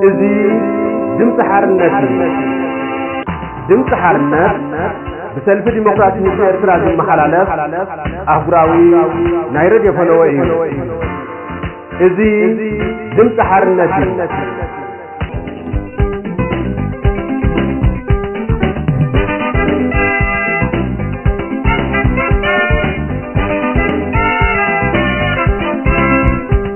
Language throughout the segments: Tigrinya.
እዚ ድምፂ ሓርነት እዩ። ድምፂ ሓርነት ብሰልፊ ዲሞክራሲ ህዝቢ ኤርትራ ዝመሓላለፍ ኣህጉራዊ ናይ ረድዮ ፈነወ እዩ። እዚ ድምፂ ሓርነት እዩ።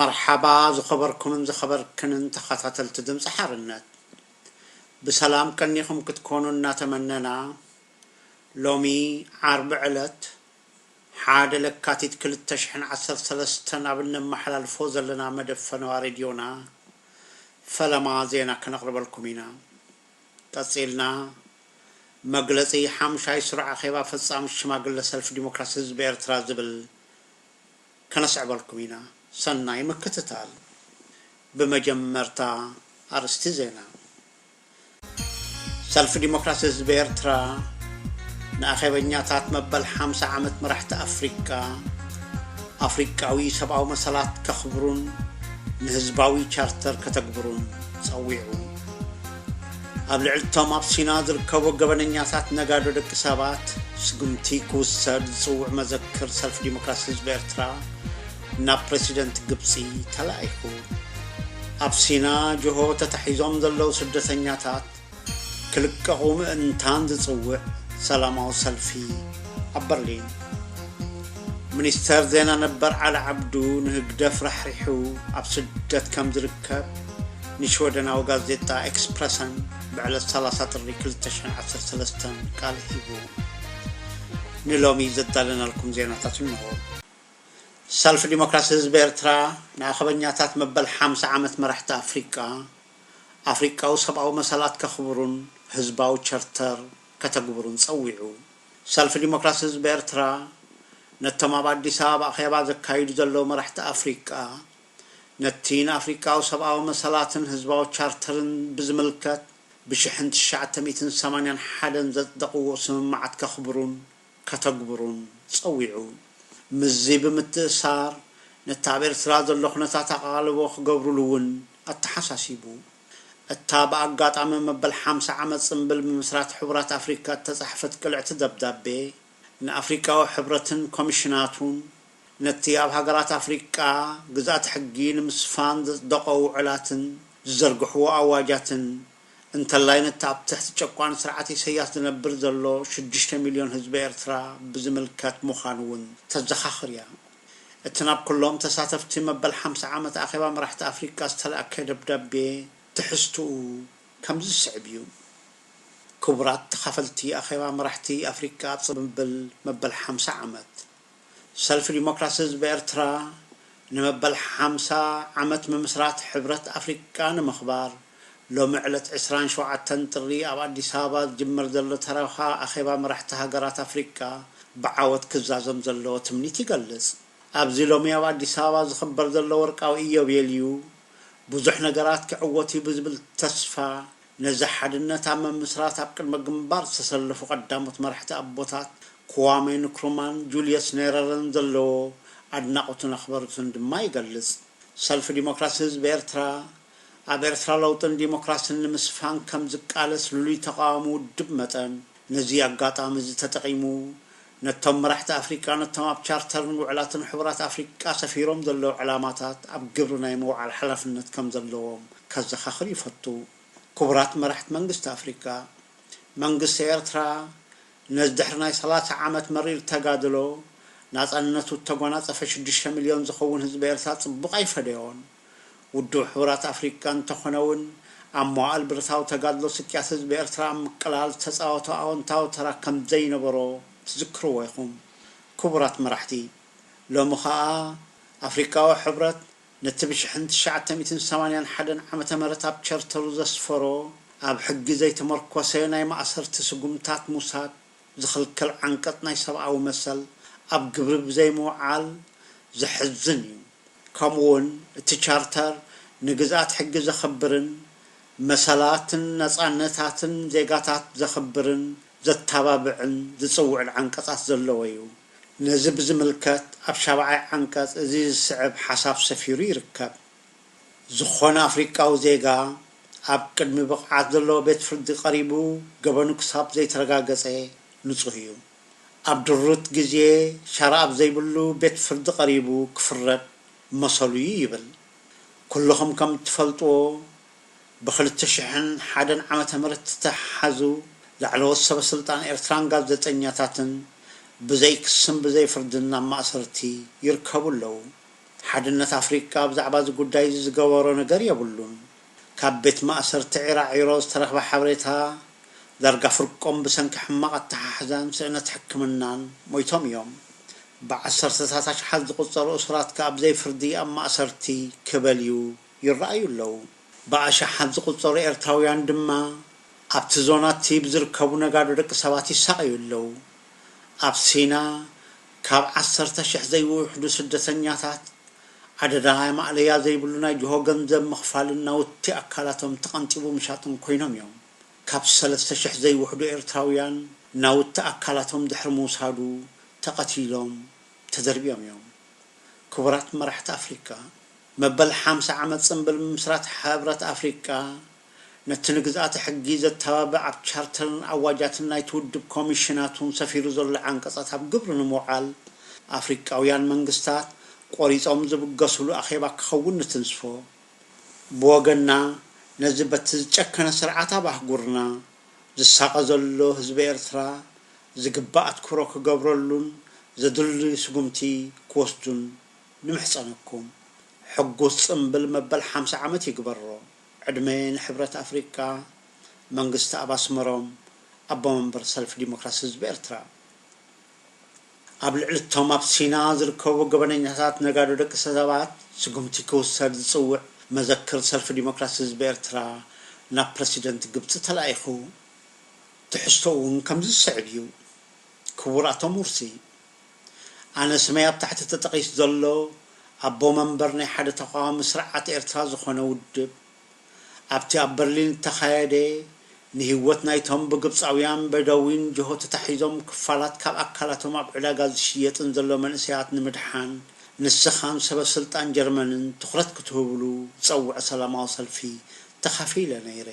መርሓባ ዝኸበርኩምን ዝኸበርክንን ተኻታተልቲ ድምጺ ሓርነት ብሰላም ቀኒኹም ክትኮኑ እናተመነና ሎሚ ዓርቢ ዕለት ሓደ ለካቲት ክልተ ሽሕን ዓሰርተ ሰለስተን ኣብ እነመሓላልፎ ዘለና መደብ ፈነዋ ሬድዮና ፈለማ ዜና ከነቕርበልኩም ኢና። ቀጺልና መግለጺ ሓሙሻይ ስሩዕ ኣኼባ ፈጻሚት ሽማግለ ሰልፊ ዲሞክራሲ ህዝቢ ኤርትራ ዝብል ከነስዕበልኩም ኢና። ሰናይ ምክትታል። ብመጀመርታ ኣርእስቲ ዜና። ሰልፊ ዲሞክራሲ ህዝቢ ኤርትራ ንኣኼበኛታት መበል ሓምሳ ዓመት መራሕቲ ኣፍሪቃ፣ ኣፍሪቃዊ ሰብኣዊ መሰላት ከኽብሩን ንህዝባዊ ቻርተር ከተግብሩን ጸዊዑ። ኣብ ልዕሊቶም ኣብ ሲና ዝርከቡ ገበነኛታት ነጋዶ ደቂ ሰባት ስጉምቲ ክውሰድ ዝፅውዕ መዘክር ሰልፊ ዲሞክራሲ ህዝቢ ኤርትራ ናብ ፕሬዚደንት ግብፂ ተላኢኹ ኣብ ሲና ጆሆ ተታሒዞም ዘለዉ ስደተኛታት ክልቀቑ ምእንታን ዝፅውዕ ሰላማዊ ሰልፊ ኣብ በርሊን ሚኒስተር ዜና ነበር ዓሊ ዓብዱ ንህግደፍ ራሕሪሑ ኣብ ስደት ከም ዝርከብ ንሽወደናዊ ጋዜጣ ኤክስፕረሰን ብዕለት ሰላሳ ጥሪ ክልተ ሽሕን ዓሰርተ ሰለስተን ቃል ሂቡ። ንሎሚ ዘዳለናልኩም ዜናታት እንሆ። ሰልፊ ዲሞክራሲ ህዝቢ ኤርትራ ንኣኸበኛታት መበል ሓምሳ ዓመት መራሕቲ ኣፍሪቃ፣ ኣፍሪቃዊ ሰብኣዊ መሰላት ከኽብሩን ህዝባዊ ቸርተር ከተግብሩን ጸዊዑ። ሰልፊ ዲሞክራሲ ህዝቢ ኤርትራ፣ ነቶም ኣብ ኣዲስ ኣበባ ኣኼባ ዘካይዱ ዘለዉ መራሕቲ ኣፍሪቃ፣ ነቲ ንኣፍሪቃዊ ሰብኣዊ መሰላትን ህዝባዊ ቻርተርን ብዝምልከት ብሽሕን ትሽዓተ ሚእትን ሰማንያን ሓደን ዘጽደቕዎ ስምምዓት ከኽብሩን ከተግብሩን ጸዊዑ። ምስዚ ብምትእስሳር፣ ነቲ ኣብ ኤርትራ ዘሎ ኩነታት ኣቓልቦ ክገብሩሉ'ውን ኣተሓሳሲቡ። እታ ብኣጋጣሚ መበል ሓምሳ ዓመት ጽምብል ምምስራት ሕቡራት ኣፍሪካ እተጻሕፈት ቅልዕቲ ደብዳቤ፣ ንኣፍሪቃዊ ሕብረትን ኮሚሽናቱን፣ ነቲ ኣብ ሃገራት ኣፍሪቃ ግዝኣተ ሕጊ ንምስፋን ዘጽደቖ ውዑላትን ዝዘርግሕዎ ኣዋጃትን፣ እንተላይ ነቲ ኣብ ትሕቲ ጨቋኒ ስርዓት ኢሰያስ ዝነብር ዘሎ ሽዱሽተ ሚልዮን ህዝቢ ኤርትራ ብዝምልከት ምዃኑ'ውን ተዘኻኽር እያ። እቲ ናብ ኩሎም ተሳተፍቲ መበል ሓምሳ ዓመት ኣኼባ መራሕቲ ኣፍሪቃ ዝተላእከ ደብዳቤ ትሕዝትኡ ከምዚ ዝስዕብ እዩ። ክቡራት ተኻፈልቲ ኣኼባ መራሕቲ ኣፍሪቃ ኣብ ጽምብል መበል ሓምሳ ዓመት ሰልፊ ዲሞክራሲ ህዝቢ ኤርትራ ንመበል ሓምሳ ዓመት ምምስራት ሕብረት ኣፍሪቃ ንምኽባር፣ ሎሚ ዕለት ዕስራን ሸውዓተን ጥሪ ኣብ ኣዲስ ኣበባ ዝጅመር ዘሎ ተረኻ ኣኼባ መራሕቲ ሃገራት ኣፍሪቃ ብዓወት ክዛዘም ዘለዎ ትምኒት ይገልጽ። ኣብዚ ሎሚ ኣብ ኣዲስ ኣበባ ዝኽበር ዘሎ ወርቃዊ ኢዮቤልዩ ብዙሕ ነገራት ክዕወትዩ ብዝብል ተስፋ ነዚ ሓድነት ኣብ ምምስራት ኣብ ቅድመ ግንባር ዝተሰለፉ ቀዳሞት መራሕቲ ኣቦታት ክዋሜ ንክሩማን ጁልየስ ኔረረን ዘለዎ ኣድናቖቱን ኣኽበሮቱን ድማ ይገልጽ። ሰልፊ ዲሞክራሲ ህዝቢ ኤርትራ፣ ኣብ ኤርትራ ለውጥን ዲሞክራስን ንምስፋን ከም ዝቃለስ ልሉይ ተቓዋሚ ውድብ መጠን፣ ነዚ ኣጋጣሚ እዚ ተጠቒሙ፣ ነቶም መራሕቲ ኣፍሪቃ ነቶም ኣብ ቻርተርን ውዕላትን ሕቡራት ኣፍሪቃ ሰፊሮም ዘለዉ ዕላማታት ኣብ ግብሪ ናይ ምውዓል ሓላፍነት ከም ዘለዎም ከዘኻኽር ይፈቱ። ክቡራት መራሕቲ መንግስቲ ኣፍሪቃ፣ መንግስቲ ኤርትራ ነዚ ድሕሪ ናይ ሰላሳ ዓመት መሪር ተጋድሎ፣ ናጻነቱ እተጓናጸፈ ሽዱሽተ ሚልዮን ዝኸውን ህዝቢ ኤርትራ ጽቡቕ ኣይፈደዮን። ውድብ ሕቡራት ኣፍሪቃ እንተኾነ እውን ኣብ መዋእል ብረታዊ ተጋድሎ ስቅያት ህዝቢ ኤርትራ ኣብ ምቅላል ዝተጻወቶ ኣወንታዊ ተራ ከምዘይነበሮ ትዝክርዎ ኢኹም ክቡራት መራሕቲ። ሎሚ ከኣ ኣፍሪቃዊ ሕብረት ነቲ ብሽሕን ትሽዓተ ሚእትን ሰማንያን ሓደን ዓመተ ምህረት ኣብ ቸርተሩ ዘስፈሮ ኣብ ሕጊ ዘይተመርኮሰ ናይ ማእሰርቲ ስጉምታት ምውሳድ ዝኽልክል ዓንቀጽ ናይ ሰብኣዊ መሰል ኣብ ግብሪ ብዘይምውዓል ዘሕዝን እዩ። ከምኡ'ውን እቲ ቻርተር ንግዝኣት ሕጊ ዘኽብርን መሰላትን ነጻነታትን ዜጋታት ዘኽብርን ዘተባብዕን ዝጽውዕን ዓንቀጻት ዘለዎ እዩ። ነዚ ብዝምልከት ኣብ ሻብዓይ ዓንቀጽ እዚ ዝስዕብ ሓሳብ ሰፊሩ ይርከብ። ዝኾነ ኣፍሪቃዊ ዜጋ ኣብ ቅድሚ ብቕዓት ዘለዎ ቤት ፍርዲ ቀሪቡ ገበኑ ክሳብ ዘይተረጋገጸ ንጹህ እዩ። ኣብ ድሩት ግዜ ሻራ ኣብ ዘይብሉ ቤት ፍርዲ ቀሪቡ ክፍረድ መሰሉ እዩ ይብል። ኩሉኹም ከም እትፈልጥዎ ብክልተ ሽሕን ሓደን ዓመተ ምህረት ዝተሓዙ ላዕለዎት ሰበ ስልጣን ኤርትራን ጋዜጠኛታትን ብዘይ ክስን ብዘይ ፍርድን ኣብ ማእሰርቲ ይርከቡ ኣለዉ። ሓድነት ኣፍሪቃ ብዛዕባ እዚ ጉዳይ እዚ ዝገበሮ ነገር የብሉን። ካብ ቤት ማእሰርቲ ዒራዒሮ ዝተረኽበ ሓበሬታ፣ ዳርጋ ፍርቆም ብሰንኪ ሕማቕ ኣተሓሕዛን ስእነት ሕክምናን ሞይቶም እዮም። ብዓሰርተታት ኣሽሓት ዝቑጸሩ እሱራት ከኣ ብዘይ ፍርዲ ኣብ ማእሰርቲ ክበልዩ ይረኣዩ ኣለዉ። ብኣሽሓት ዝቑጸሩ ኤርትራውያን ድማ ኣብቲ ዞና'ቲ ብዝርከቡ ነጋዶ ደቂ ሰባት ይሳቐዩ ኣለዉ። ኣብ ሲና ካብ ዓሰርተ ሽሕ ዘይውሕዱ ስደተኛታት፣ ኣደዳ ማእለያ ዘይብሉ ናይ ጅሆ ገንዘብ ምኽፋልን ናውቲ ኣካላቶም ተቐንጢቡ ምሻጥን ኮይኖም እዮም። ካብ ሰለስተ ሽሕ ዘይውሕዱ ኤርትራውያን፣ ናውቲ ኣካላቶም ድሕሪ ምውሳዱ ተቐቲሎም ተደርብዮም እዮም። ክቡራት መራሕቲ ኣፍሪቃ፣ መበል ሓምሳ ዓመት ጽንብል ምምስራት ሕብረት ኣፍሪቃ፣ ነቲ ንግዝኣተ ሕጊ ዘተባብዕ ኣብ ቻርተርን ኣዋጃትን ናይቲ ውድብ ኮሚሽናቱን ሰፊሩ ዘሎ ዓንቀጻት ኣብ ግብሪ ንምውዓል፣ ኣፍሪቃውያን መንግስታት ቆሪጾም ዝብገሱሉ ኣኼባ ክኸውን ንትንስፎ። ብወገንና ነዚ በቲ ዝጨከነ ስርዓት ኣብ ኣህጉርና ዝሳቐ ዘሎ ህዝቢ ኤርትራ ዝግባእ ኣትኩሮ ክገብረሉን ዘድልዩ ስጉምቲ ክወስዱን ንምሕጸነኩም። ሕጉስ ጽምብል መበል ሓምሳ ዓመት ይግበሮ። ዕድመ ንሕብረት ኣፍሪቃ፣ መንግስትኣብ ኣስመሮም፣ ኣቦ መንበር ሰልፊ ዲሞክራሲ ህዝቢ ኤርትራ። ኣብ ልዕሊ'ቶም ኣብ ሲና ዝርከቡ ገበነኛታት ነጋዶ ደቂሰባት ስጉምቲ ክውሰድ ዝጽውዕ መዘክር ሰልፊ ዲሞክራሲ ህዝቢ ኤርትራ ናብ ፕረሲደንት ግብጺ ተላኢኹ። ትሕዝቶኡ'ውን ከምዚ ዝስዕብ እዩ። ክቡር ኣቶ ሙርሲ! ኣነ ስመይ ኣብ ታሕቲ ተጠቒሱ ዘሎ ኣቦ መንበር ናይ ሓደ ተቓዋሚ ስርዓት ኤርትራ ዝኾነ ውድብ፣ ኣብቲ ኣብ በርሊን እተኻየደ ንህይወት ናይቶም ብግብጻውያን በደዊን ጅሆ ተታሒዞም ክፋላት ካብ ኣካላቶም ኣብ ዕዳጋ ዝሽየጥን ዘሎ መንእሰያት ንምድሓን ንስኻን ሰበስልጣን ጀርመንን ትኹረት ክትህብሉ ዝጸውዐ ሰላማዊ ሰልፊ ተኻፊለ ነይረ።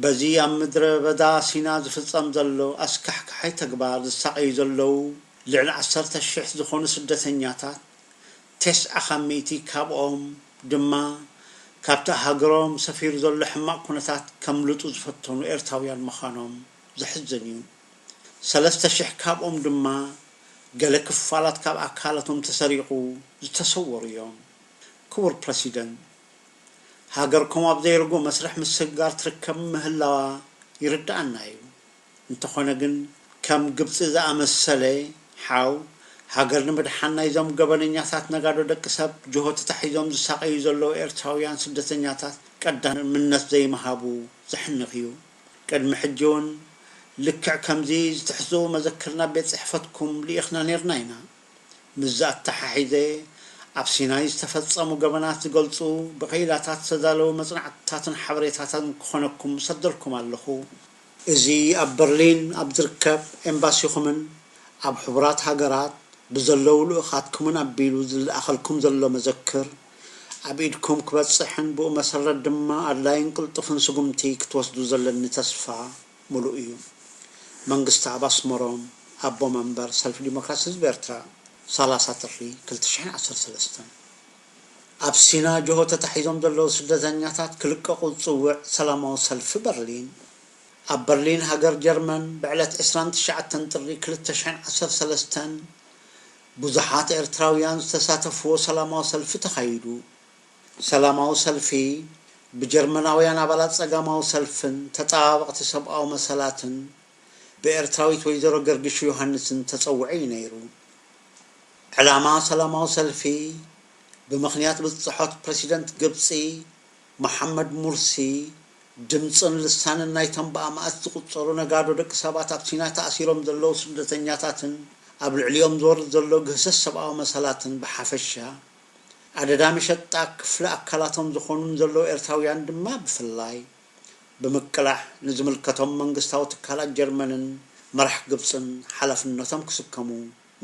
በዚ ኣብ ምድረ በዳ ሲና ዝፍጸም ዘሎ ኣስካሕካሓይ ተግባር ዝሳቐዩ ዘለዉ ልዕሊ ዓሰርተ ሽሕ ዝኾኑ ስደተኛታት፣ ቴስዓ ካብ ሚእቲ ካብኦም ድማ ካብቲ ኣብ ሃገሮም ሰፊሩ ዘሎ ሕማቕ ኩነታት ከምልጡ ዝፈተኑ ኤርትራውያን ምዃኖም ዘሕዝን እዩ። ሰለስተ ሽሕ ካብኦም ድማ ገለ ክፋላት ካብ ኣካላቶም ተሰሪቑ ዝተሰወሩ እዮም። ክቡር ፕረሲደንት! ሃገርኩም ኣብ ዘይርጉእ መስርሕ ምስግጋር ትርከብ ምህላዋ ይርደኣና እዩ። እንተኾነ ግን ከም ግብጺ ዝኣመሰለ ሓው ሃገር ንምድሓን ናይዞም ገበነኛታት ነጋዶ ደቂ ሰብ ጅሆ ተታሒዞም ዝሳቐዩ ዘለዉ ኤርትራውያን ስደተኛታት ቀዳምነት ዘይምሃቡ ዘሕንኽ እዩ። ቅድሚ ሕጂውን ልክዕ ከምዚ ዝትሕዝኡ መዘክር ናብ ቤት ጽሕፈትኩም ልኢኽና ኔርና ኢና። ምስዚ ኣተሓሒዘ፣ ኣብ ሲናይ ዝተፈጸሙ ገበናት ዝገልጹ ብቀይላታት ዝተዳለዉ መጽናዕትታትን ሓበሬታታትን ክኾነኩም እሰደልኩም ኣለኹ። እዚ ኣብ በርሊን ኣብ ዝርከብ ኤምባሲኹምን ኣብ ሕቡራት ሃገራት ብዘለዉ ልኡኻትኩምን ኣቢሉ ዝለኣኸልኩም ዘሎ መዘክር፣ ኣብ ኢድኩም ክበጽሕን ብኡ መሰረት ድማ ኣድላይን ቅልጡፍን ስጉምቲ ክትወስዱ ዘለኒ ተስፋ። ምሉእ እዩ። መንግስትኣብ ኣስመሮም ኣቦ መንበር ሰልፊ ዲሞክራሲ ህዝቢ ኤርትራ ሰላሳ ጥሪ ክልተ ሽሕን ዓሰርተ ሰለስተን ኣብ ሲና ጅሆ ተታሒዞም ዘለዉ ስደተኛታት ክልቀቑ ዝጽውዕ ሰላማዊ ሰልፊ በርሊን ኣብ በርሊን ሃገር ጀርመን ብዕለት ዕስራን ትሽዓተን ጥሪ ክልተ ሽሕን ዓሰርተ ሰለስተን ብዙሓት ኤርትራውያን ዝተሳተፍዎ ሰላማዊ ሰልፊ ተኻይዱ። ሰላማዊ ሰልፊ ብጀርመናውያን ኣባላት ጸጋማዊ ሰልፍን ተጣባበቕቲ ሰብኣዊ መሰላትን ብኤርትራዊት ወይዘሮ ገርግሹ ዮሃንስን ተጸውዑ እዩ ነይሩ። ዕላማ ሰላማዊ ሰልፊ ብምኽንያት ብጽሖት ፕረሲደንት ግብጺ መሓመድ ሙርሲ ድምጽን ልሳንን ናይቶም ብኣማእት ዝቑጸሩ ነጋዶ ደቂ ሰባት ኣብ ሲና ተኣሲሮም ዘለዉ ስደተኛታትን ኣብ ልዕሊኦም ዝወርድ ዘሎ ግህሰት ሰብኣዊ መሰላትን ብሓፈሻ ኣደዳ መሸጣ ክፍሊ ኣካላቶም ዝኾኑን ዘለዉ ኤርትራውያን ድማ ብፍላይ ብምቅላሕ ንዝምልከቶም መንግስታዊ ትካላት ጀርመንን መራሕ ግብጽን ሓላፍነቶም ክስከሙ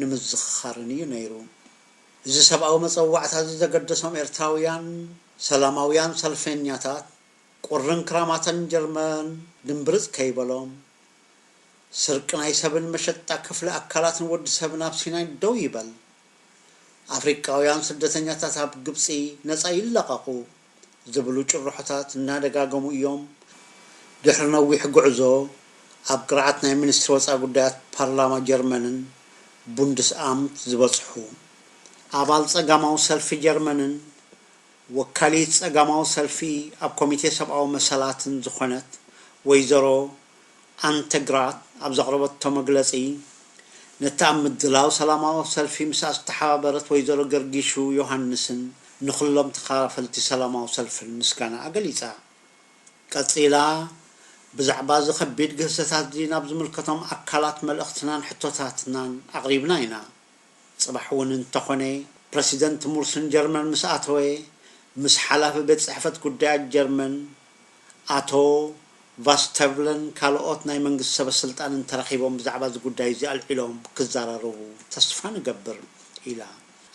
ንምዝኽኻርን እዩ ነይሩ። እዚ ሰብኣዊ መጸዋዕታዚ ዘገደሶም ኤርትራውያን ሰላማውያን ሰልፌኛታት ቁርን ክራማተን ጀርመን ድምብርጽ ከይበሎም ስርቂ ናይ ሰብን መሸጣ ክፍሊ ኣካላትን ወዲ ሰብን ኣብ ሲናይ ደው ይበል ኣፍሪቃውያን ስደተኛታት ኣብ ግብጺ ነጻ ይለቐቑ ዝብሉ ጭርሖታት እናደጋገሙ እዮም። ድሕሪ ነዊሕ ጉዕዞ፣ ኣብ ቅርዓት ናይ ሚኒስትሪ ወጻኢ ጉዳያት ፓርላማ ጀርመንን፣ ቡንድስኣምት፣ ዝበጽሑ፣ ኣባል ጸጋማዊ ሰልፊ ጀርመንን ወካሊት ጸጋማዊ ሰልፊ ኣብ ኮሚቴ ሰብኣዊ መሰላትን ዝኾነት ወይዘሮ፣ ኣንተግራት ኣብ ዘቕረበቶ መግለጺ፣ ነቲ ኣብ ምድላው ሰላማዊ ሰልፊ ምስኣ ዝተሓባበረት ወይዘሮ ገርጊሹ ዮሃንስን ንኹሎም ተኻፈልቲ ሰላማዊ ሰልፍን ምስጋናኣ ገሊጻ። ቀጺላ፣ ብዛዕባ'ዚ ከቢድ ግህሰታት'ዚ ናብ ዝምልከቶም ኣካላት መልእኽትናን ሕቶታትናን ኣቕሪብና ኢና። ጽባሕ እውን እንተኾነ ፕረሲደንት ሙርሲ ንጀርመን ምስ ኣተወ፣ ምስ ሓላፊ ቤት ጽሕፈት ጉዳያት ጀርመን ኣቶ ቫስተቭለን ካልኦት ናይ መንግስቲ ሰበስልጣንን ተራኺቦም ብዛዕባ እዚ ጉዳይ እዚ ኣልዒሎም ክዘራረቡ ተስፋ ንገብር ኢላ።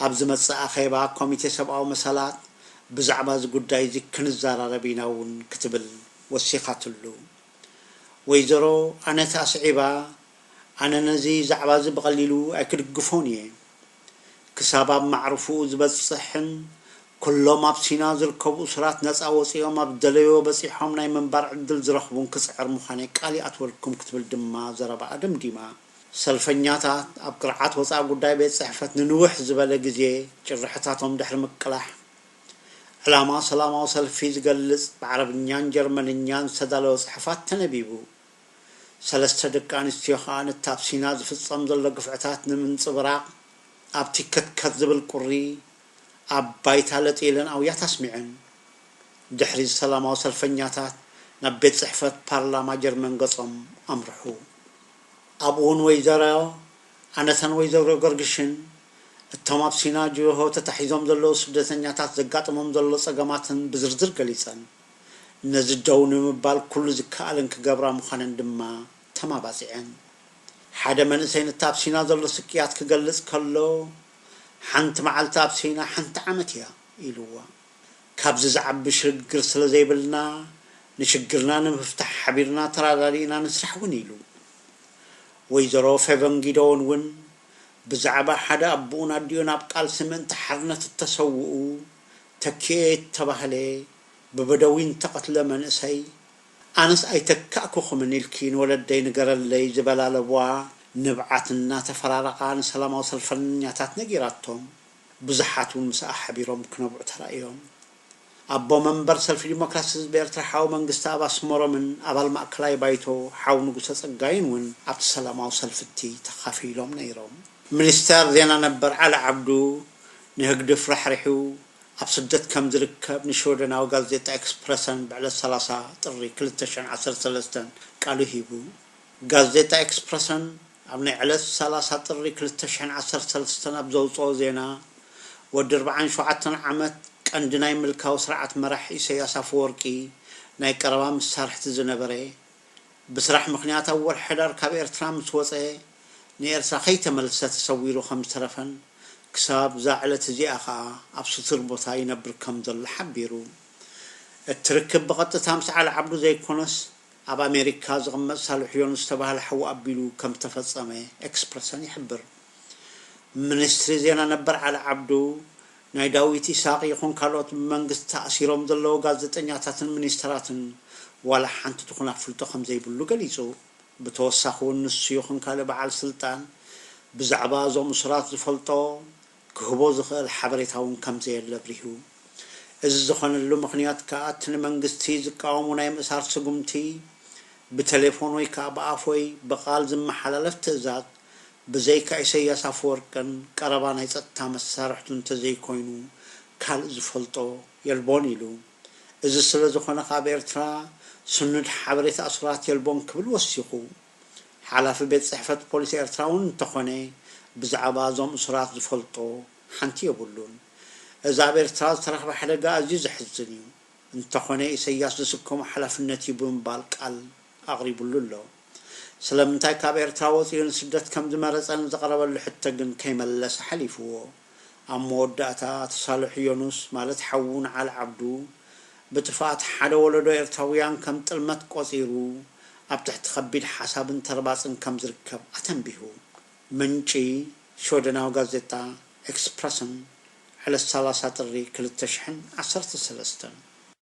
ኣብ ዝመጽእ ኣኼባ ኮሚቴ ሰብኣዊ መሰላት ብዛዕባ እዚ ጉዳይ እዚ ክንዘራረብ ኢና እውን ክትብል ወሲኻትሉ። ወይዘሮ ኣነታ ኣስዒባ፣ ኣነ ነዚ ዛዕባዚ ብቐሊሉ ኣይክድግፎን እየ። ክሳብ ኣብ ማዕርፍኡ ዝበጽሕን ኩሎም ኣብ ሲና ዝርከቡ እሱራት ነጻ ወጺኦም ኣብ ዝደለይዎ በጺሖም ናይ ምንባር ዕድል ዝረኽቡን ክጽዕር ምዃነይ ቃል ይኣትወልኩም ክትብል ድማ ዘረባኣ ደምዲማ። ሰልፈኛታት ኣብ ቅርዓት ወጻኢ ጉዳይ ቤት ጽሕፈት ንንውሕ ዝበለ ግዜ ጭርሖታቶም ድሕሪ ምቅላሕ፣ ዕላማ ሰላማዊ ሰልፊ ዝገልጽ ብዓረብኛን ጀርመንኛን ዝተዳለወ ጽሑፋት ተነቢቡ። ሰለስተ ደቂ ኣንስትዮ ከኣ ነቲ ኣብ ሲና ዝፍጸም ዘሎ ግፍዕታት ንምንጽብራቕ ኣብ ቲከትከት ዝብል ቁሪ ኣብ ባይታ ለጥ ኢለን ኣውያት ኣስሚዐን። ድሕሪዚ ሰላማዊ ሰልፈኛታት ናብ ቤት ጽሕፈት ፓርላማ ጀርመን ገጾም ኣምርሑ። ኣብኡውን ወይዘሮ ኣነተን ወይዘሮ ገርግሽን እቶም ኣብ ሲና ጅሆ ተታሒዞም ዘለዉ ስደተኛታት ዘጋጥሞም ዘሎ ጸገማትን ብዝርዝር ገሊጸን። ነዚ ደው ንምባል ኩሉ ዝከኣለን ክገብራ ምዃነን ድማ ተማባጺዐን። ሓደ መንእሰይ ነቲ ኣብ ሲና ዘሎ ስቅያት ክገልጽ ከሎ፣ ሓንቲ መዓልቲ ኣብ ሲና ሓንቲ ዓመት እያ ኢሉዋ። ካብዚ ዝዓቢ ሽግግር ስለ ዘይብልና፣ ንሽግርና ንምፍታሕ ሓቢርና ተራዳዲእና ንስራሕ እውን ኢሉ። ወይዘሮ ፌቨን ጊደዎን እውን ብዛዕባ ሓደ ኣቦኡን ኣዲኡን ኣብ ቃልሲ ምእንቲ ሓርነት እተሰውኡ፣ ተኪኤ እተባህለ ብበደዊን እተቐትለ መንእሰይ፣ ኣነስ ኣይተካእኩኹምን ኢልኪ ንወለደይ ንገረለይ ዝበላለቡዋ ንብዓት እናተፈራረቓ ንሰላማዊ ሰልፈኛታት ነጊራቶም። ብዙሓት እውን ምስኣ ሓቢሮም ክነብዑ ተራእዮም። ኣቦ መንበር ሰልፊ ዲሞክራሲ ህዝቢ ኤርትራ ሓው መንግስተኣብ ኣስመሮምን ኣባል ማእከላይ ባይቶ ሓው ንጉሰ ጸጋይን እውን ኣብቲ ሰላማዊ ሰልፊ እቲ ተኻፊሎም ነይሮም። ሚኒስተር ዜና ነበር ዓሊ ዓብዱ፣ ንህግድፍ ራሕሪሑ ኣብ ስደት ከም ዝርከብ ንሽወደናዊ ጋዜጣ ኤክስፕረሰን ብዕለት ሰላሳ ጥሪ ክልተ ሽሕን ዓሰርተ ሰለስተን ቃሉ ሂቡ። ጋዜጣ ኤክስፕረሰን ኣብ ናይ ዕለት ሰላሳ ጥሪ ክልተ ሽሕን ዓሰርተ ሰለስተን ኣብ ዘውጽኦ ዜና፣ ወዲ ኣርብዓን ሸውዓተን ዓመት ቀንዲ ናይ ምልካዊ ስርዓት መራሕ ኢሰያስ ኣፈወርቂ ናይ ቀረባ መሳርሕቲ ዝነበረ ብስራሕ ምኽንያት ኣብ ወርሒ ሕዳር ካብ ኤርትራ ምስ ወጸ ንኤርትራ ከይተመልሰ ተሰዊሩ ከም ዝተረፈን ክሳብ እዛ ዕለት እዚኣ ከኣ ኣብ ስቱር ቦታ ይነብር ከም ዘሎ ሓቢሩ። እቲ ርክብ ብቐጥታ ምስ ዓሊ ዓብዱ ዘይኮነስ ኣብ ኣሜሪካ ዝቕመጥ ሳልሕ ዮኑስ ዝተባህለ ሓዉ ኣቢሉ ከም ዝተፈጸመ ኤክስፕረሰን ይሕብር። ምኒስትሪ ዜና ነበር ዓሊ ዓብዱ ናይ ዳዊት ኢሳቕ ይኹን ካልኦት ብመንግስቲ ተኣሲሮም ዘለዉ ጋዜጠኛታትን ሚኒስተራትን ዋላ ሓንቲ ትኹን ኣፍልጦ ከምዘይብሉ ገሊጹ። ብተወሳኺ'ውን ንሱ ይኹን ካልእ በዓል ስልጣን ብዛዕባ እዞም እሱራት ዝፈልጦ ክህቦ ዝኽእል ሓበሬታ'ውን ከምዘየለ ኣብሪሁ። እዚ ዝኾነሉ ምኽንያት ከኣ እቲ ንመንግስቲ ዝቃወሙ ናይ ምእሳር ስጉምቲ ብተሌፎን ወይ ከኣ ብኣፍ ወይ ብቓል ዝመሓላለፍ ትእዛዝ ብዘይካ ኢሰያስ ኣፈወርቅን ቀረባ ናይ ጸጥታ መሳርሕቱን ተዘይኮይኑ ካልእ ዝፈልጦ የልቦን ኢሉ። እዚ ስለ ዝኾነ ከኣ ኣብ ኤርትራ ስኑድ ሓበሬታ እሱራት የልቦን ክብል ወሲኹ። ሓላፊ ቤት ጽሕፈት ፖሊስ ኤርትራ እውን እንተኾነ ብዛዕባ እዞም እሱራት ዝፈልጦ ሓንቲ የብሉን። እዚ ኣብ ኤርትራ ዝተረኽበ ሓደጋ ኣዝዩ ዘሕዝን እዩ። እንተኾነ ኢሰያስ ዝስከሞ ሓላፍነት እዩ ብምባል ቃል ኣቕሪቡሉ ኣሎ። ስለምንታይ ካብ ኤርትራ ወጺኡ ንስደት ከም ዝመረጸ ንዝቐረበሉ ሕቶ ግን ከይመለሰ ሓሊፍዎ። ኣብ መወዳእታ እቲ ሳልሕ ዮኑስ ማለት ሓዉ ንዓል ዓብዱ ብጥፍኣት ሓደ ወለዶ ኤርትራዉያን ከም ጥልመት ቆጺሩ ኣብ ትሕቲ ከቢድ ሓሳብን ተርባጽን ከም ዝርከብ ኣተንቢሁ። ምንጪ ሽወደናዊ ጋዜጣ ኤክስፕረሰን ዕለት ሰላሳ ጥሪ ክልተ ሽሕን ዓሰርተ ሰለስተን።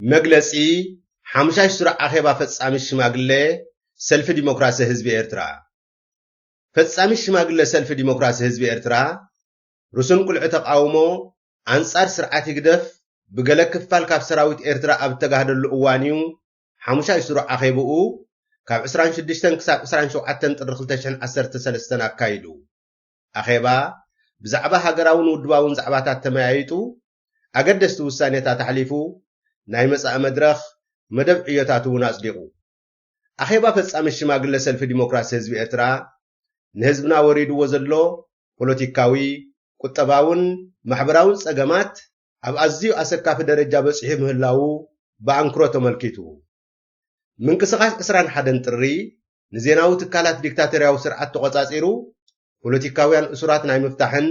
መግለጺ ሓሙሻይ ሱር ኣኼባ ፈጻሚ ሽማግለ ሰልፊ ዲሞክራሲ ህዝቢ ኤርትራ ፈጻሚ ሽማግለ ሰልፊ ዲሞክራሲ ህዝቢ ኤርትራ ርሱን ቁልዒ ተቃውሞ ኣንጻር ስርዓት ህግደፍ ብገለ ክፋል ካብ ሰራዊት ኤርትራ ኣብ እተጋህደሉ እዋን'ዩ ሓሙሻይ ስሩዕ ኣኼብኡ ካብ ዕስራን ሽዱሽተን ክሳብ ዕስራን ሸውዓተን ጥሪ ክልተ ሽሕን ዓሰርተ ሰለስተን ኣካይዱ። ኣኼባ ብዛዕባ ሃገራውን ውድባውን ዛዕባታት ተመያይጡ፣ ኣገደስቲ ውሳኔታት ኣሕሊፉ፣ ናይ መጻኢ መድረኽ መደብ ዕዮታት'ውን ኣጽዲቑ። ኣኼባ ፈጻሚት ሽማግለ ሰልፊ ዲሞክራሲ ህዝቢ ኤርትራ ንህዝብና ወሪድዎ ዘሎ ፖለቲካዊ፣ ቁጠባውን ማሕበራውን ጸገማት ኣብ ኣዝዩ ኣሰካፊ ደረጃ በጺሑ ምህላዉ ብኣንክሮ ተመልኪቱ። ምንቅስቓስ ዕስራን ሓደን ጥሪ ንዜናዊ ትካላት ዲክታቶርያዊ ስርዓት ተቖጻጺሩ ፖለቲካውያን እሱራት ናይ ምፍታሕን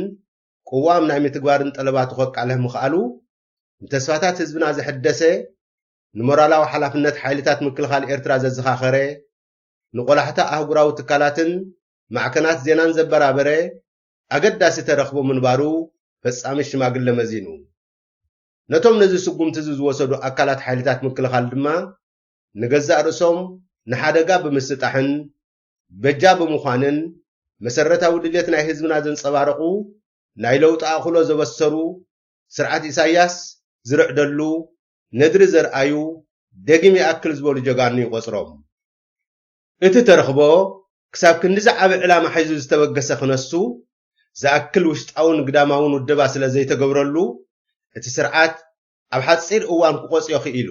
ቅዋም ናይ ምትግባርን ጠለባቱ ከቃልሕ ምኽኣሉ ንተስፋታት ህዝብና ዘሐደሰ ንሞራላዊ ሓላፍነት ሓይልታት ምክልኻል ኤርትራ ዘዘኻኸረ፣ ንቆላሕታ ኣህጉራዊ ትካላትን ማዕከናት ዜናን ዘበራበረ ኣገዳሲ ተረኽቦ ምንባሩ ፈጻሚ ሽማግለ መዚኑ። ነቶም ነዚ ስጉምቲዚ ዝወሰዱ ኣካላት ሓይልታት ምክልኻል ድማ ንገዛእ ርእሶም ንሓደጋ ብምስጣሕን በጃ ብምዃንን መሰረታዊ ድሌት ናይ ህዝብና ዘንጸባረቑ ናይ ለውጢ ኣኽሎ ዘበሰሩ ስርዓት ኢሳያስ ዝርዕደሉ ነድሪ ዘርኣዩ ደጊም ይኣክል ዝበሉ ጀጋኑ ይቖጽሮም። እቲ ተረኽቦ ክሳብ ክንድዚ ዓቢ ዕላማ ሒዙ ዝተበገሰ ክነሱ ዝኣክል ውሽጣውን ግዳማውን ውደባ ስለ ዘይተገብረሉ እቲ ስርዓት ኣብ ሓጺር እዋን ክቖጽዮ ክኢሉ።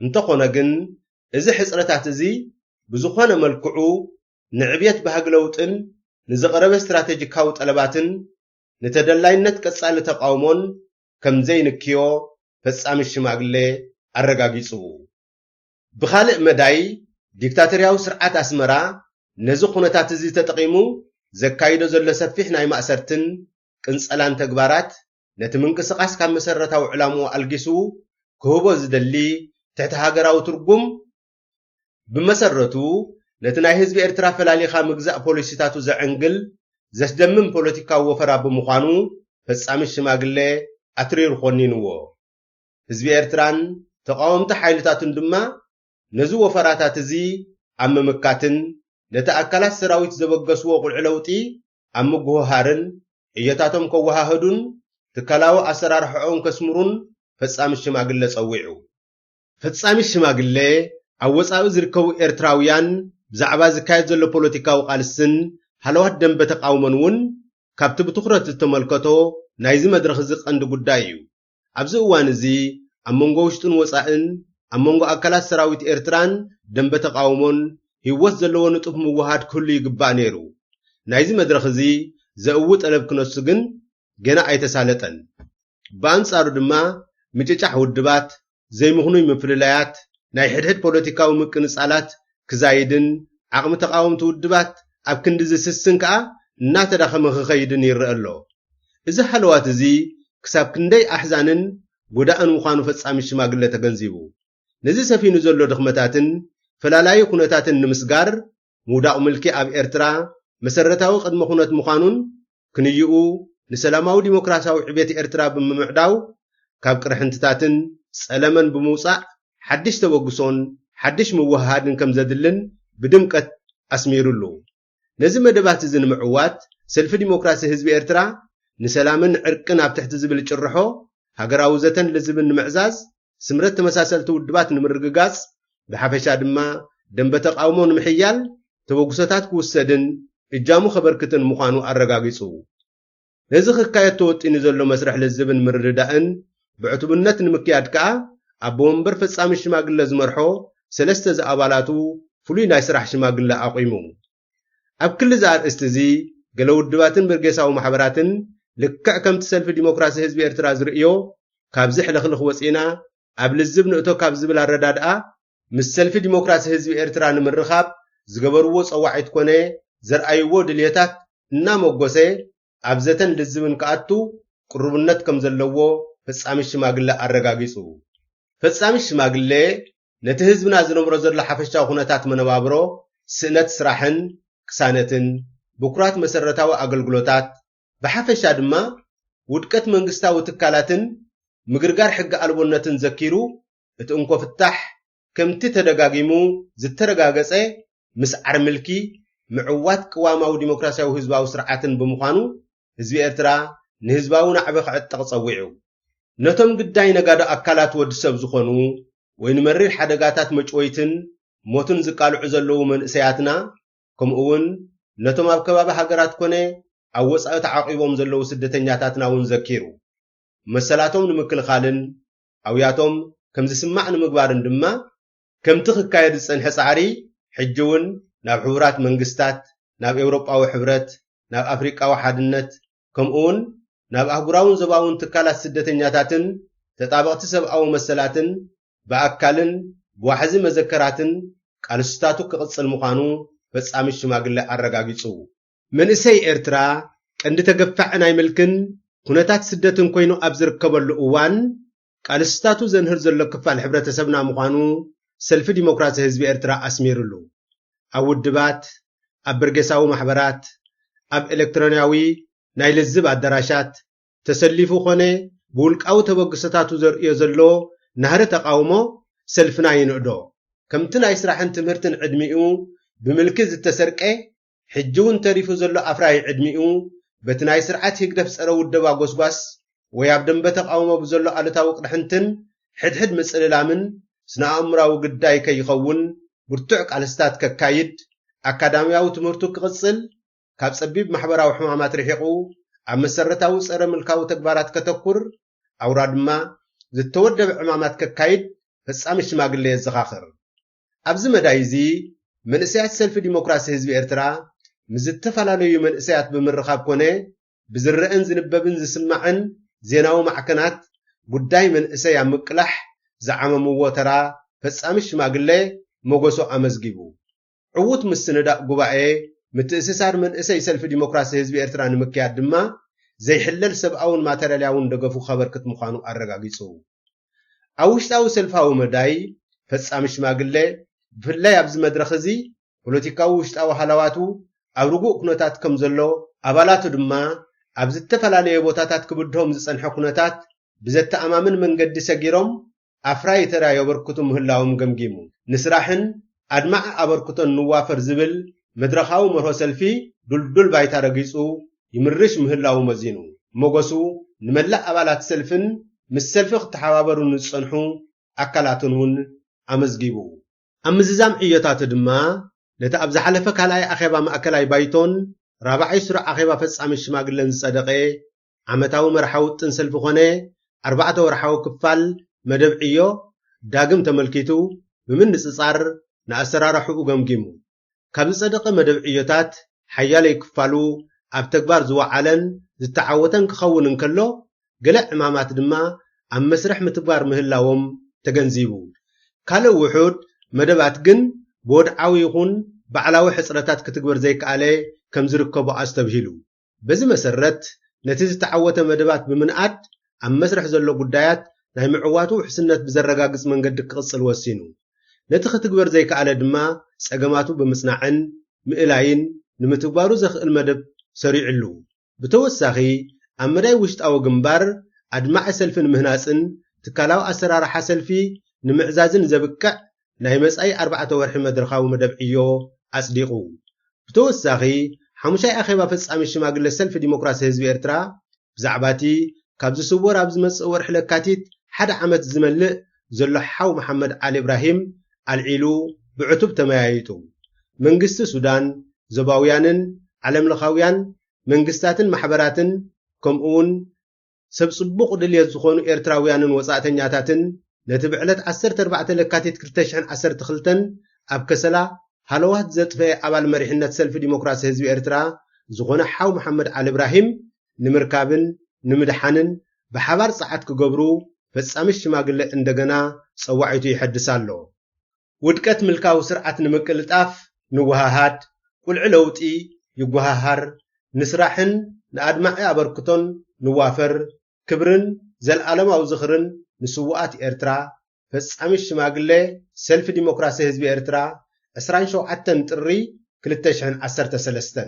እንተኾነ ግን እዚ ሕጽረታት እዚ ብዝኾነ መልክዑ ንዕብየት ባህጊ ለውጥን ንዝቐረበ ስትራተጂካዊ ጠለባትን ንተደላይነት ቀጻሊ ተቓውሞን ከም ዘይንክዮ ፈጻሚ ሽማግሌ ኣረጋጊጹ። ብኻልእ መዳይ ዲክታቶርያዊ ስርዓት ኣስመራ ነዚ ኩነታት'ዚ ተጠቒሙ ዘካይዶ ዘሎ ሰፊሕ ናይ ማእሰርትን ቅንጸላን ተግባራት ነቲ ምንቅስቓስ ካብ መሰረታዊ ዕላምኡ ኣልጊሱ ክህቦ ዝደሊ ትሕተ-ሃገራዊ ትርጉም ብመሰረቱ ነቲ ናይ ህዝቢ ኤርትራ ፈላሊኻ ምግዛእ ፖሊሲታቱ ዘዕንግል ዘስደምም ፖለቲካዊ ወፈራ ብምዃኑ ፈጻሚት ሽማግለ ኣትሪሩ ኮኒንዎ። ህዝቢ ኤርትራን ተቓወምቲ ሓይልታቱን ድማ ነዚ ወፈራታት እዚ ኣብ ምምካትን ነቲ ኣካላት ሰራዊት ዘበገስዎ ቁልዒ ለውጢ ኣብ ምጉህሃርን ዕዮታቶም ከወሃህዱን ትካላዊ ኣሰራርሓኦም ከስምሩን ፈጻሚት ሽማግለ ጸዊዑ። ፈጻሚት ሽማግለ፣ ኣብ ወጻኢ ዝርከቡ ኤርትራውያን ብዛዕባ ዝካየድ ዘሎ ፖለቲካዊ ቃልስን ሃለዋት ደምበ ተቓውሞን እውን ካብቲ ብትኹረት ዝተመልከቶ ናይዚ መድረኽ እዚ ቀንዲ ጉዳይ እዩ። ኣብዚ እዋን እዚ ኣብ መንጎ ውሽጥን ወጻእን፣ ኣብ መንጎ ኣካላት ሰራዊት ኤርትራን ደምበ ተቓውሞን ህይወት ዘለዎ ንጡፍ ምውህሃድ ክህሉ ይግባእ ነይሩ። ናይዚ መድረኽ እዚ ዘእዊ ጠለብ ክነሱ ግን ገና ኣይተሳለጠን። ብኣንጻሩ ድማ ምጭጫሕ ውድባት፣ ዘይምኽኑይ ምፍልላያት፣ ናይ ሕድሕድ ፖለቲካዊ ምቅንጻላት ክዛይድን ዓቕሚ ተቓወምቲ ውድባት ኣብ ክንዲ ዝስስን ከኣ እናተዳኸመ ክኸይድን ይረኣ ኣሎ። እዚ ሃለዋት እዚ ክሳብ ክንደይ ኣሕዛንን ጎዳእን ምዃኑ ፈጻሚ ሽማግለ ተገንዚቡ፣ ነዚ ሰፊኑ ዘሎ ድኽመታትን ፈላላዪ ኩነታትን ንምስጋር ምውዳቕ ምልኪ ኣብ ኤርትራ መሰረታዊ ቅድመ ኩነት ምዃኑን ክንይኡ ንሰላማዊ ዲሞክራሲያዊ ዕቤት ኤርትራ ብምምዕዳው ካብ ቅርሕንትታትን ጸለመን ብምውጻእ ሓድሽ ተበግሶን ሓድሽ ምውህሃድን ከም ዘድልን ብድምቀት ኣስሚርሉ። ነዚ መደባት'ዚ ንምዕዋት ሰልፊ ዲሞክራሲ ህዝቢ ኤርትራ ንሰላምን ዕርቅን ኣብ ትሕቲ ዝብል ጭርሖ ሃገራዊ ዘተን ልዝብን ንምዕዛዝ ስምረት ተመሳሰልቲ ውድባት ንምርግጋጽ ብሓፈሻ ድማ ደንበ ተቓውሞ ንምሕያል ተበግሶታት ክውሰድን እጃሙ ከበርክትን ምዃኑ ኣረጋጊጹ። ነዚ ክካየድ ተወጢኑ ዘሎ መስርሕ ልዝብን ምርድዳእን ብዕቱብነት ንምክያድ ከኣ ኣቦ መንበር ፈጻሚ ሽማግለ ዝመርሖ ሰለስተ ዝኣባላቱ ፍሉይ ናይ ስራሕ ሽማግለ ኣቝሙ። ኣብ ክሊ እዚ ኣርእስቲ እዚ ገለ ውድባትን በርጌሳዊ ማሕበራትን ልክዕ ከምቲ ሰልፊ ዲሞክራሲ ህዝቢ ኤርትራ ዝርእዮ ካብዚ ሕልኽልኽ ወጺእና ኣብ ልዝብ ንእቶ ካብ ዝብል ኣረዳድኣ ምስ ሰልፊ ዲሞክራሲ ህዝቢ ኤርትራ ንምርኻብ ዝገበርዎ ጸዋዒት ኮነ ዘርኣይዎ ድልየታት እናመጎሰ ኣብ ዘተን ልዝብን ክኣቱ ቅሩብነት ከም ዘለዎ ፈጻሚት ሽማግለ ኣረጋጊጹ። ፈጻሚት ሽማግለ ነቲ ህዝብና ዝነብሮ ዘሎ ሓፈሻዊ ኩነታት መነባብሮ፣ ስእነት ስራሕን ቅሳነትን፣ ብኩራት መሰረታዊ ኣገልግሎታት፣ ብሓፈሻ ድማ ውድቀት መንግስታዊ ትካላትን ምግርጋር ሕጊ ኣልቦነትን ዘኪሩ እቲ እንኮ ፍታሕ ከምቲ ተደጋጊሙ ዝተረጋገጸ ምስዓር ምልኪ ምዕዋት ቅዋማዊ ዲሞክራሲያዊ ህዝባዊ ስርዓትን ብምዃኑ ህዝቢ ኤርትራ ንህዝባዊ ናዕቢ ክዕጠቕ ጸዊዑ። ነቶም ግዳይ ነጋዶ ኣካላት ወድ ሰብ ዝኾኑ ወይ ንመሪር ሓደጋታት መጭወይትን ሞትን ዝቃልዑ ዘለዉ መንእሰያትና ከምኡ'ውን ነቶም ኣብ ከባቢ ሃገራት ኮነ ኣብ ወጻኢ ተዓቚቦም ዘለዉ ስደተኛታትና እውን ዘኪሩ መሰላቶም ንምክልኻልን ኣውያቶም ከም ዝስማዕ ንምግባርን ድማ፣ ከምቲ ክካየድ ዝጸንሐ ጻዕሪ ሕጂ'ውን ናብ ሕቡራት መንግስታት፣ ናብ ኤውሮጳዊ ሕብረት፣ ናብ ኣፍሪቃዊ ሓድነት፣ ከምኡ'ውን ናብ ኣህጉራውን ዞባውን ትካላት ስደተኛታትን ተጣበቕቲ ሰብኣዊ መሰላትን ብኣካልን ብዋሕዚ መዘከራትን ቃልስታቱ ክቕጽል ምዃኑ ፈጻሚት ሽማግለ ኣረጋጊጹ። መንእሰይ ኤርትራ ቀንዲ ተገፋዒ ናይ ምልክን ኩነታት ስደትን ኮይኑ ኣብ ዝርከበሉ እዋን ቃልስታቱ ዘንህር ዘሎ ክፋል ሕብረተሰብና ምዃኑ ሰልፊ ዲሞክራሲ ህዝቢ ኤርትራ ኣስሚርሉ። ኣብ ውድባት፣ ኣብ በርጌሳዊ ማሕበራት፣ ኣብ ኤለክትሮንያዊ ናይ ልዝብ ኣዳራሻት ተሰሊፉ ኮነ ብውልቃዊ ተበግሶታቱ ዘርእዮ ዘሎ ናህሪ ተቓውሞ ሰልፍና ይንእዶ። ከምቲ ናይ ስራሕን ትምህርትን ዕድሚኡ ብምልኪ ዝተሰርቀ ሕጂ ውን ተሪፉ ዘሎ ኣፍራዪ ዕድሚኡ በቲ ናይ ስርዓት ህግደፍ ጸረ ውደባ ጎስጓስ ወይ ኣብ ደምበ ተቓውሞ ብዘሎ ኣሉታዊ ቅርሕንትን ሕድሕድ ምጽልላምን ስነ-ኣእምራዊ ግዳይ ከይኸውን ብርቱዕ ቃልስታት ከካይድ ኣካዳምያዊ ትምህርቱ ክቕጽል ካብ ጸቢብ ማሕበራዊ ሕማማት ርሒቑ ኣብ መሰረታዊ ጸረ ምልካዊ ተግባራት ከተኩር ኣውራ ድማ ዝተወደበ ዕማማት ከካይድ ፈጻሚ ሽማግለ የዘኻኽር። ኣብዚ መዳይ እዚ መንእሰያት ሰልፊ ዲሞክራሲ ህዝቢ ኤርትራ ምስ ዝተፈላለዩ መንእሰያት ብምርኻብ ኮነ ብዝረኣን ዝንበብን ዝስማዕን ዜናዊ ማዕከናት ጉዳይ መንእሰይ ኣብ ምቅላሕ ዝዓመምዎ ተራ ፈጻሚ ሽማግለ ሞገሶ ኣመዝጊቡ ዕዉት ምስንዳእ ጉባኤ ምትእስሳር መንእሰይ ሰልፊ ዲሞክራሲ ህዝቢ ኤርትራ ንምክያድ ድማ ዘይሕለል ሰብኣውን ማተርያልያውን ደገፉ ከበርክት ምዃኑ ኣረጋጊጹ። ኣብ ውሽጣዊ ሰልፋዊ መዳይ፣ ፈጻሚ ሽማግለ፣ ብፍላይ ኣብዚ መድረኽ እዚ፣ ፖለቲካዊ ውሽጣዊ ሃላዋቱ ኣብ ርጉእ ኩነታት ከም ዘሎ፣ ኣባላቱ ድማ ኣብ ዝተፈላለየ ቦታታት ክብድሆም ዝጸንሐ ኩነታት ብዘተኣማምን መንገዲ ሰጊሮም ኣፍራዪ ተራ የበርክቱ ምህላዎም ገምጊሙ፣ ንስራሕን ኣድማዒ ኣበርክቶን ንዋፈር ዝብል መድረኻዊ መርሆ ሰልፊ ድልዱል ባይታ ረጊጹ ይምርሽ ምህላዉ መዚኑ ሞገሱ ንመላእ ኣባላት ሰልፍን ምስ ሰልፊ ክተሓባበሩ ንዝጸንሑ ኣካላትን እውን ኣመዝጊቡ። ኣብ ምዝዛም ዕዮታቱ ድማ ነቲ ኣብ ዝሓለፈ ካልኣይ ኣኼባ ማእከላይ ባይቶን ራብዓይ ስሩዕ ኣኼባ ፈጻሚ ሽማግለን ዝጸደቐ ዓመታዊ መርሓ ውጥን ሰልፊ ኮነ ኣርባዕተ ወርሓዊ ክፋል መደብ ዕዮ ዳግም ተመልኪቱ ብምንጽጻር ንኣሰራርሓኡ ገምጊሙ። ካብ ዝጸደቐ መደብ ዕዮታት ሓያለይ ክፋሉ ኣብ ተግባር ዝወዓለን ዝተዓወተን ክኸውን እንከሎ፣ ገለ ዕማማት ድማ ኣብ መስርሕ ምትግባር ምህላዎም ተገንዚቡ። ካልእ ውሑድ መደባት ግን ብወድዓዊ ይኹን ባዕላዊ ሕጽረታት ክትግበር ዘይከኣለ ከምዝርከቦ ኣስተብሂሉ። በዚ መሰረት ነቲ ዝተዓወተ መደባት ብምንኣድ ኣብ መስርሕ ዘሎ ጉዳያት ናይ ምዕዋቱ ውሕስነት ብዘረጋግፅ መንገዲ ክቕፅል ወሲኑ። ነቲ ክትግበር ዘይከኣለ ድማ ፀገማቱ ብምፅናዕን ምእላይን ንምትግባሩ ዘኽእል መደብ ሰሪዑሉ። ብተወሳኺ ኣብ መዳይ ውሽጣዊ ግንባር ኣድማዒ ሰልፊ ንምህናፅን ትካላዊ ኣሰራርሓ ሰልፊ ንምዕዛዝን ዘብቅዕ ናይ መጻኢ ኣርባዕተ ወርሒ መድረኻዊ መደብ ዕዮ ኣጽዲቑ። ብተወሳኺ፣ ሓሙሻይ ኣኼባ ፈጻሚት ሽማግለ ሰልፊ ዲሞክራሲ ህዝቢ ኤርትራ፣ ብዛዕባ'ቲ ካብ ዝስወር ኣብ ዝመጽእ ወርሒ ለካቲት ሓደ ዓመት ዝመልእ ዘሎ ሓው መሓመድ ዓሊ እብራሂም ኣልዒሉ ብዕቱብ ተመያይጡ። መንግስቲ ሱዳን፣ ዞባውያንን ዓለምለኻውያን መንግስታትን ማሕበራትን ከምኡ'ውን ሰብ ጽቡቕ ድልየት ዝኾኑ ኤርትራውያንን ወጻእተኛታትን ነቲ ብዕለት ዓሰርተ ኣርባዕተ ለካቲት ክልተ ሽሕን ዓሰርተ ክልተን ኣብ ከሰላ ሃለዋት ዘጥፈኤ ኣባል መሪሕነት ሰልፊ ዲሞክራሲ ህዝቢ ኤርትራ ዝኾነ ሓው መሓመድ ዓሊ እብራሂም ንምርካብን ንምድሓንን ብሓባር ጸዓት ክገብሩ ፈጻሚት ሽማግለ እንደገና ጸዋዒቱ ይሐድስ ኣሎ። ውድቀት ምልካዊ ስርዓት ንምቅልጣፍ ንወሃሃድ፣ ቁልዒ ለውጢ ይጎሃሃር፣ ንስራሕን ንኣድማዒ ኣበርክቶን ንዋፈር፣ ክብርን ዘልኣለማዊ ዝኽርን ንስዉኣት ኤርትራ፣ ፈጻሚት ሽማግለ ሰልፊ ዲሞክራሲ ህዝቢ ኤርትራ፣ ዕስራን ሸውዓተን ጥሪ ክልተ ሽሕን ዓሰርተ ሰለስተን።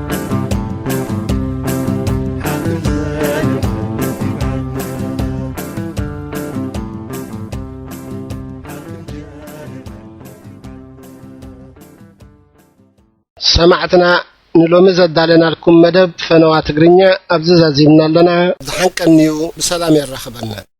ሰማዕትና ንሎሚ ዘዳለናልኩም መደብ ፈነዋ ትግርኛ ኣብዚ ዛዚምና ኣለና ዝሓንቀንዩ ብሰላም የራኽበና